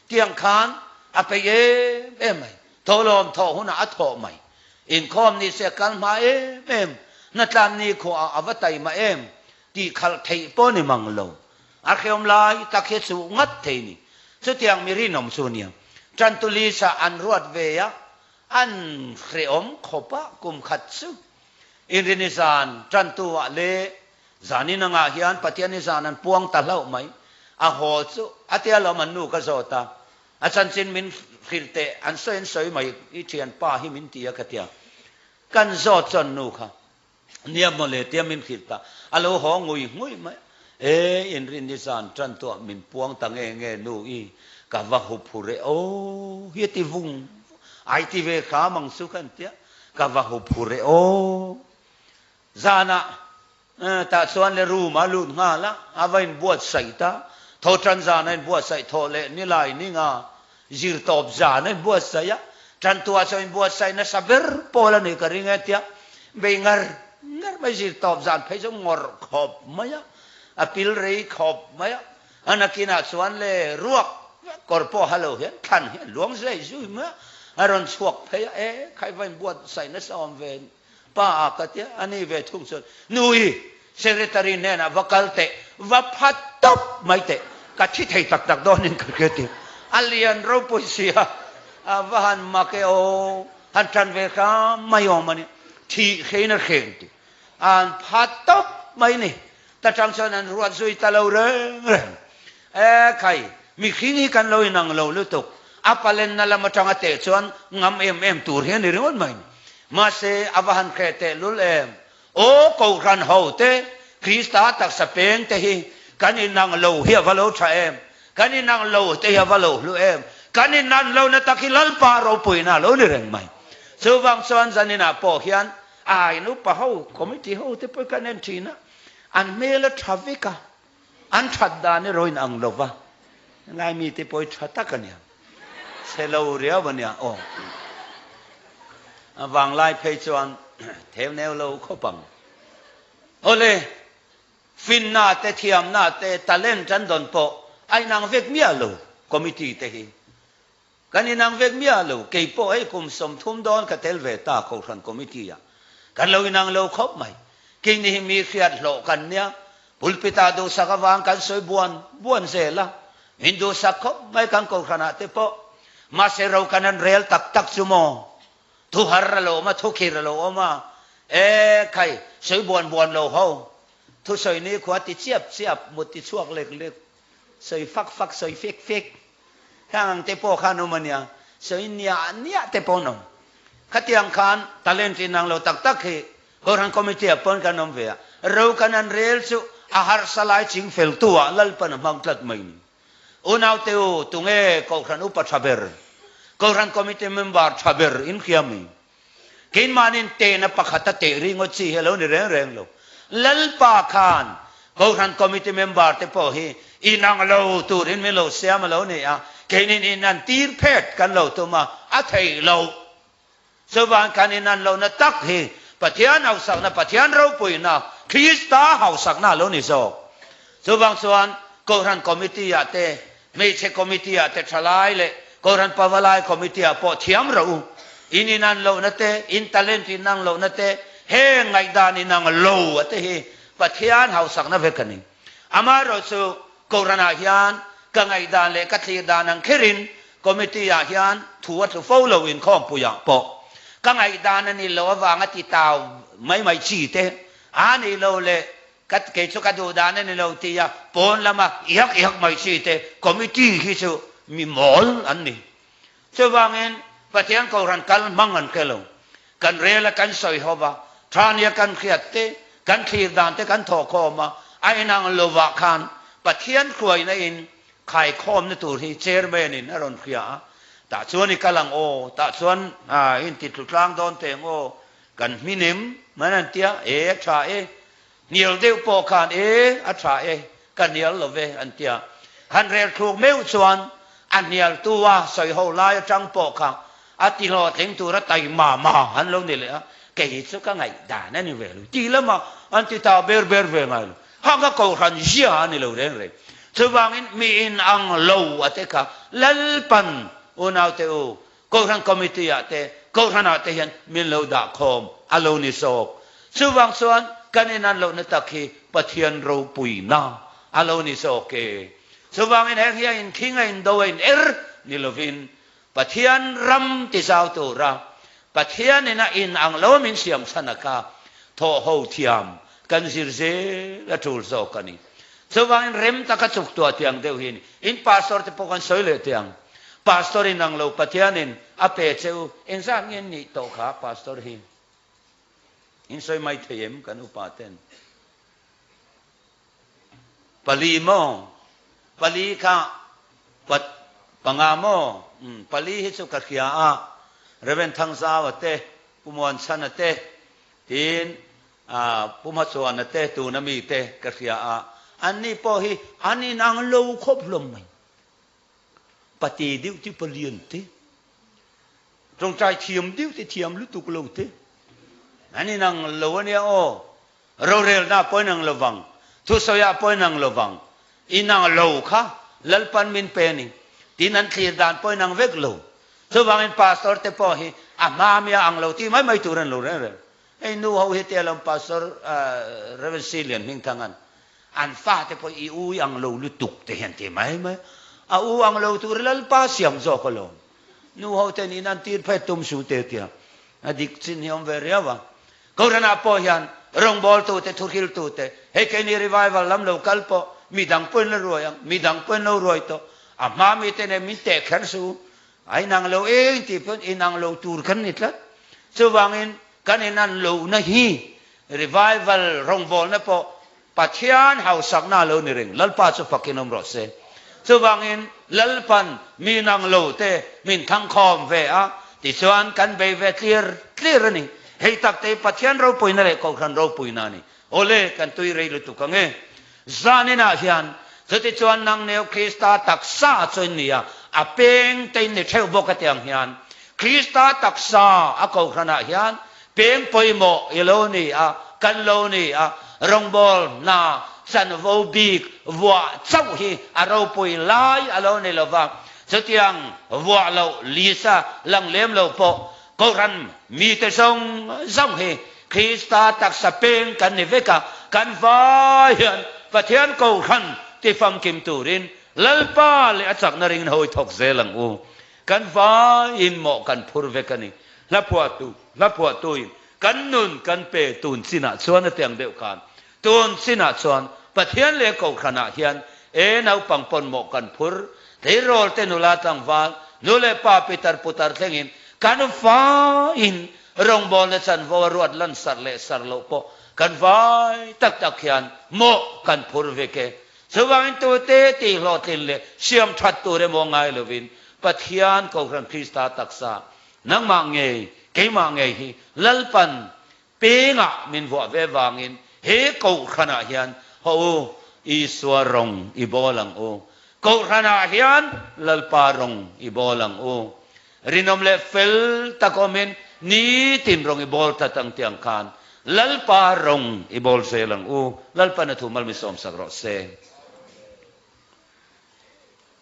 tiang khan a peih em em mai. Thawhlawm thawh hunah a thawh mai. Inkhawm ni se kal hma em em, hna tlam ni khuaah a va tai mah em? tih khalh theih pawh ni mang lo. A hreawm lai tak hi suh ngat thei ni. Chutiang mi rinawm chu nia, Tantu Lisa an ruat ve a, an hreawm khawp a kum khat chu. Inrini zan Tantuah leh Zaninangah hian Pathian i zan an puang ta hlauh mai. A haw chu a tia lawm an nu ka zawt a, A chanchin min hrilh teh an sawi an sawi mai i thian pa hi min ti a ka tia. Kan zawt chuan nu kha niam maw le tia min hrilh ta a lo haw ngui ngui mai e in rin i zan tan tawh min puang ta nge nge nu i ka va hup hu reh aw hi a ti vung vung ai ti ve kham ang chu khan tia ka va hup hu reh aw zan a Tah chuan le room a lut nghal a, a va in buatsaih ta, tho tan zan a in buatsaih thawh leh ni lai ning a, zir tawp zan a in buatsaih a, tan tu ah chuan in buatsaih nasa ber pawl a ni ka ring e tia bei ngar ngar mai zir tawp zan phei chu ngawrh khawp mai a, a pil rei khawp mai a, a nakin ah chuan le ruak vek kawr pawh ha lo hian thlan hian luang zui zui mai a, a rawn chhuak phei a, e kha i va in buatsaih nasa awm ve. Pa a ka tia a ni ve thung chuan nui secretary hnenah va kal teh va phat tawp mai teh ka thi thei tak tak dawn in ka hria tir a lian ropui sia a va han mak e aw han tan ve hram mai awm a ni thih hrein a hreng tih a han phat tawp mai ni ta tang chuan an ruat zui ta lo reng reng E khai, mihring hi kan lo inang lo lutuk, a palenna lam atanga teh chuan ngam em em tur hi a ni ringawt mai. Mahse, a va han hreh tehlul em? Aw, Kohhran ho te, Krista taksa peng te hi kan inang lo hi a va lo tha em? Kan inang lo te hi a va lo hlu em? Kan inan lo na tak hi Lalpa ropuina a lo ni reng mai. Chuvang chuan zaninah pawh hian ai nupa ho, committee ho te pawh i kan en thin a, an hmel a tha vek a. An that dan erawh in ang lo va, helai mi te pawh hi tha tak a nia, selo riau a nia aw. A vanglai phei chuan theuneu lo khawp ang. Awle, finna te, thiamna te, talent an dawn pawh a inang vek miah lo committee te hi. Kan inang vek miah lo, kei pawh hei kum sawmthum dawn ka tel ve ta Kohhran Committee ah kan lo inang lo khawp mai. Kei ni hi mi hriat hlawh kan nia, pulpit ah duhsak avang kan sawi buan buan zel a, min duhsak khawp mai kan Kohhran ah te pawh. Mahse ro kan han rel tak tak chu maw? Thuhar a lo awm a, thukhir a lo awm a, e khai sawi buan buan lo ho, thusawi nikhua ti chiap chiap, muttichhuak lek lek. Sawi fak fak, sawi fek fek. Heng ang te pawh khan awm a nia, sawi niah niah te pawh an awm. Khatiang khan talent inang lo tak tak hi Kawlram Committee ah pawn kan awm ve a, rokan an rel chu a harsa lai ching fel tu ah Lalpan a hmang tlat mai ni. Unau Teu, tunge Kawlram Upa tha ber, Kawlram Committee member tha ber in hria mai. Keimahnin tehna pakhat a teh ringaw chi hi a lo ni reng reng lo. Lalpa khan Kohhran Committee member te pawh hi inang lo turin min lo siam a lo ni a, keinin in an tir phet kan lo tum a, a theih loh. Chuvan kan in an lohna tak hi Pathian hausakna, Pathian ropuina, Krista hausakna a lo ni zawk. Chuvang chuan Kohhran Committee-ah te Hmeichhe committee ah te thalai leh Kawlran pava lai committee ah pawh thiam rauh u. In inan lohna te, in talent inang lohna te, heng ngaihdan inang lo a te hi Pathian hausakna vek a ni. Amaherawhchu chu Kawlran ah hian ka ngaihdan leh ka thlir dan ang kher in committee ah hian thu a tlu fo lo inkhawmpui ah pawh ka ngaihdan a ni lo avanga titau mai mai chi te aa nei lo leh Ka kei chu ka duh dan a ni lo tih a pawn lama iak iak hmeichhia te committee hi chu mi mawl an ni. Chuvangin Pathian Kohhran kal hmang an hre lo. Kan rel a kan sawi hawp a, tha nia kan hriat te, kan thlir dan te kan thawh khawm a, a inang lo vah khan Pathian hruaina in khaikhawmna tur hi Chairman in a rawn hria a, tah chuan i kal ang aw, tah chuan in titlutlang dawn teh ang aw, Kan hmin em? Mah hian an ti a, e a tha e, hnial deuh pawh khan e a tha e, ka hnial lo ve an ti a, han rel thluk meuh chuan a hnialtu a sawi ho lai atang pawh kha a tihlawh thleng tur a tai mah mah han lo ni leh a, kei hi chu ka ngaih dan a ni ve lo, tih lama an ti ta ber ber ve ngai lo, ha ka kohhran zia a ni lo reng reng, chuvangin mi in ang lo a te kha lalpan, unaute u, Kohhran Committee ah te, Kohhran ah te hian min lo dah khawm a lo ni zawk. Chuvang chuan kan inan lohna tak hi Pathian ropuina a lo ni zawk e. Chuvangin heng hi a inkhing a indo a in er ni lovin Pathian ram ti zau tura Pathian in a in ang lo min siam chhana kha thawh ho thiam kan zir zel a tul zawk a ni. Chuvangin rem taka chuktuah tiang deuh hi a ni. In Pastor te pawh kan sawi leh teh ang. Pastor inang lo Pathianin a pe che u. Engzat nge in nih tawh kha Pastor hi? In sawi mai thei em kan upa ten? Pali maw? Pali kha pa panga maw? Um, pali hi chu ka hria a, Rev. Thangzau a te, Pu Muanchhan a te, tiin A, Pu Hmachuana te tuna mite ka hria a, an ni pawh hi an inang lo khawp hlawm mai. Pati deuh te palian te, tawngtai thiam deuh te thiam lutuk lo te an inang lo a nia aw, rorelna pawh inang lovang, thusawiah pawh inang lovang, inang lo kha Lalpan min pe ni tiin an thlir dan pawh inang vek lo. Chuvangin Pastor te pawh hi a hmamia ang lo tih mai mai tur an lo rel rel. Hei nu ho hi te alawm Pastor Rev. Hri Lian Hming Thang an an fa te pawh i u i ang lo lutuk te hian ti mai mai a u ang lo tur hi Lalpa siam zawk alawm nu ho ten in an tir phet tum su teh tia a dik chin hi awm ve riau a Koran ah pawh hian rawngbâwl tu te thuhril tu te hei kei ni revival lam lo kal pawh midang pawhin la ruai ang midang pawhin lo ruai tawh a hma mi te nen min teh kher su A inang lo e intih pawn inang lo tur kan ni tlat. Chuvangin kan inan lohna hi Revival rawngbawlna pawh Pathian hausakna lo ni reng. Lalpa chu fakin awm rawh se. Chuvangin Lalpan mi nang lo te min thangkhawm ve a tichuan kan bei ve tlir tlir a ni. Hei takte hi Pathian ropawina leh Kohhran ropuina a ni. Awle, kan tui rei lutuk ange. Zaninah hian, chutichuan nang neu Krista taksa chu in nia, a peng te in ni theuh bawk atiang hian, Krista taksa a kohhranah hian peng pawimawh i lo ni a, kan lo ni a, rawngbâwl hna chanvo bik vuah chauh hi a ropui lai a lo ni lo va, chutiang vuah loh Lisa Langlem lo pawh, Coran mite zawng zawng hi Krista taksa peng kan ni vek a, kan vai hian Pathian Coran ti famkim turin Lalpa leh a chakna ringin hawi thawk zel ang u. Kan vai in mawh kan phur vek a ni. Hla phuahtu, hla phuahtuin kan nun kan pe tun chinah chuan hetiang deuh khan Tun sinah chuan Pathian leh Kohhranah hian e naupang pawnmawh kan phur, tleirawl-te nula tlangval, nu leh pa pitar putar thlengin kan faiin rawngbâwl leh chanvo a ruat lansar leh sar loh pawh kan vai tak tak hian mawh kan phur vek e. Chuvangin tute tihhlawhtlin leh siamthat tur emaw ngai lovin Pathian, Kohhran Krista taksa, nangmah ngei, keimah ngei hi Lalpan Pengah min vuah ve vangin he Kohhranah hian haw u, Isua rawng i bawl ang u, Kohhranah hian Lalpa rawng i bawl ang u, rinawm leh fel tak awmin nitin rawng i bawl ta tang tiang khan Lalpa rawng i bawl zel ang u, Lalpa na thu mal min sawmsak rawh se.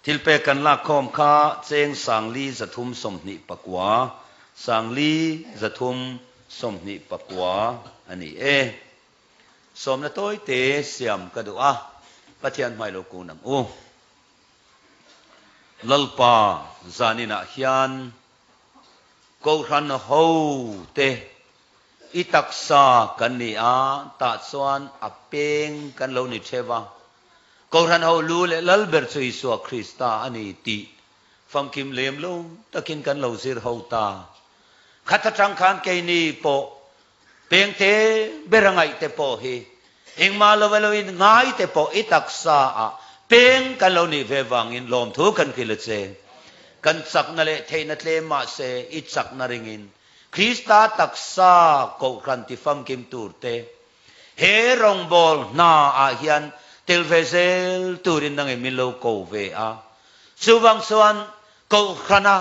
Thilpek kan lak khawm kha cheng sangli zathum sawmhnih pakua, sangli zathum sawmhnih pakua a ni e. Sawmna tawi te siam ka duh a, Pathian hmai lo kun ang u. Lalpa zaninah hian Kohhranho te i taksa kan ni a, tah chuan a peng kan lo ni theu a, Kohhran ho lu leh lal ber chu Isua Krista a ni tih famkim lem lo takin kan lo zir ho ta. Khat atang khan keini pawh pengte ber a ngaihte pawh hi engmah lo elo in ngaite pawh i taksa ah peng kan lo nih ve vangin lawmthu kan kil a che. Kan chakna leh theihna tlem mahse i chakna ringin Krista taksa kohhran ti famkim turte He rawngbâwl hna ah hian tel ve zel turin nangin min lo ko ve a, chuvang chuan Kohhrana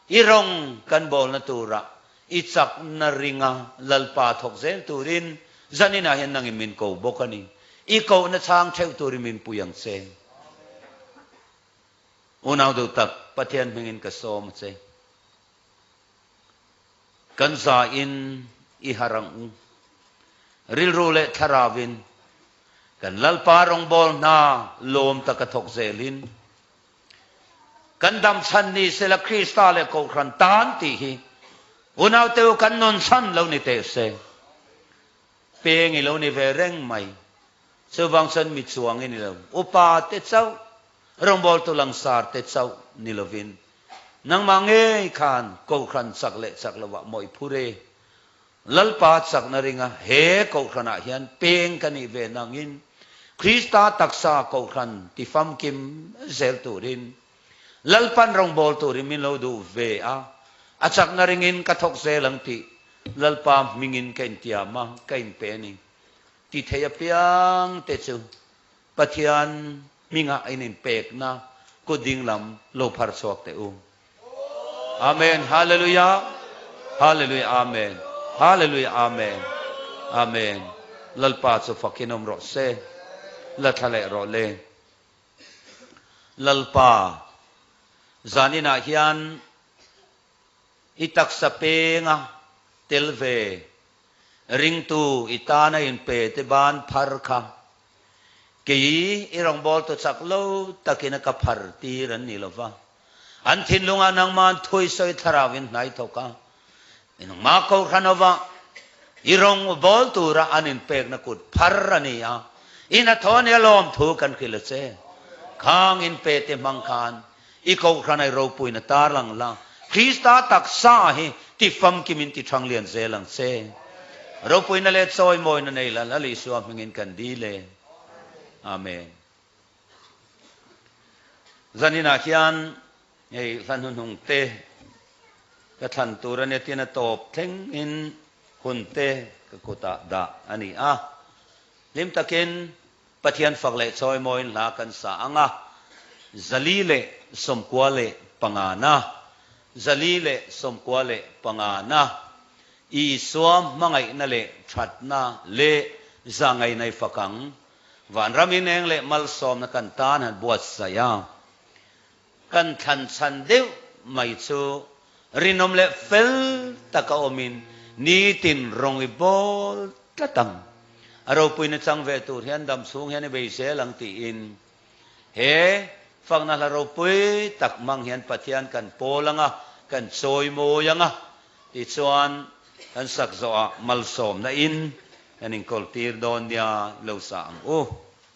i rawng kan bâwlna turah i chak na ringa Lalpa thawk zel turin zanin ah hian nangin min ko bawk a ni. I kohna chhâng theuh turin min pui ang che. Unau duhtak, Pathian hmingin ka sâwm a che. Kan za in i har ang u. Rilru leh thlarau in kan Lalpa rawngbâwl hna lâwm taka thawk zêl in, kan damchhan ni se la Krista leh Kohhran tân tih hi unaute u kan nun chhan lo ni teh se. Pêng i lo ni ve reng mai. Chuvâng chuan mi chuang in i lo upa teh chauh. Rawngbawltu Langsar te chauh ni lovin nangmah ngei khan Kohhran chak leh chak lovah mawih phur e. Lalpa chakna ringa he Kohhranah hian peng ka nih ve nangin Krista taksa Kohhran ti famkim zel turin Lalpan rawngbawltu turin min lo duh ve a, a chakna ringin ka thawk zel ang tih Lalpa hmingin ka intiam a, ka inpe a ni. Tithei apiang te chu Pathian hmingah in in pekna kut ding lam lo phar chhuak teh u. Amen Hallelujah Hallelujah Amen Hallelujah Amen Amen Lalpa chu fakin awm rawh se la thla leh rawh le Lalpa zan inah hian i taksa penga tel ve ringtu i tana in pe te ban phar kha Kei i rawngbâwl tu chak lo takin a ka phar tir an ni lo va. An thinlungah nangmah an thui sawi thlarau in hnai thawk a, i nangmah ko hran ova i rawng u bâwl tura an inpêkna kut phar a ni a, i hnathawh a nia lâwm thu kan hrilh a che. Khâng inpe te hmang khan. I kohhran ai ropuina tar ang la, Krista taksa ah hi ti famkim in ti thang lian zel ang che. Ropuina leh chawimawina nei la lal Isua hming in kan dil e. Amen. Zanin ah hian hei hla hnuhnung te ka thlan tur a nia tiin a tawp thleng in hun te ka kut ah dah a ni a. Hlim tak in Pathian fak leh chawi mawiin hla kan sa ang a, zali leh sawmkua leh panga na, zali leh sawmkua leh panga na, Isua hmangaihna leh thatna leh za ngainai fakang, vanram ineng leh malsawmna kan tan han buatsaih a. Kan thlan chhan deuh mai chu rinawm leh fel taka awmin nitin rawng i bawl tlat ang. A ropui na chang ve tur hian dam chhung hian i beisel ang tiin he fakna hla ropui tak hmang hian Pathian kan pawl anga kan chawi mawi anga tih chuan kan sak zawhah malsawmna in kan inkawltir dawn nia lo sa ang u.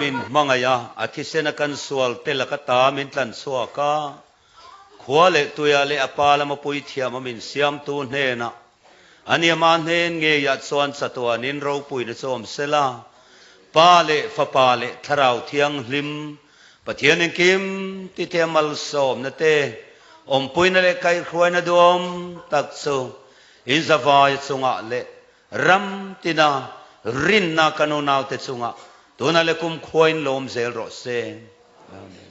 Min hmangaih a, a thisen a kan sual tel a ka ta min tlan chhuak a, khua leh tuia leh a pa lama puithiam a min siamtu hnena ania ma hnen ngeiah chuan chatuanin ropuina chu awm sela pa leh fapa leh thlarau thianghlim Pathian in kim ti te malsawmna te, awmpuina leh kaihhruaina duam tak chu in zavai chungah leh ram tina rinna kan unaute chungah tuna leh kumkhua in lawm zel rawh se. Amen.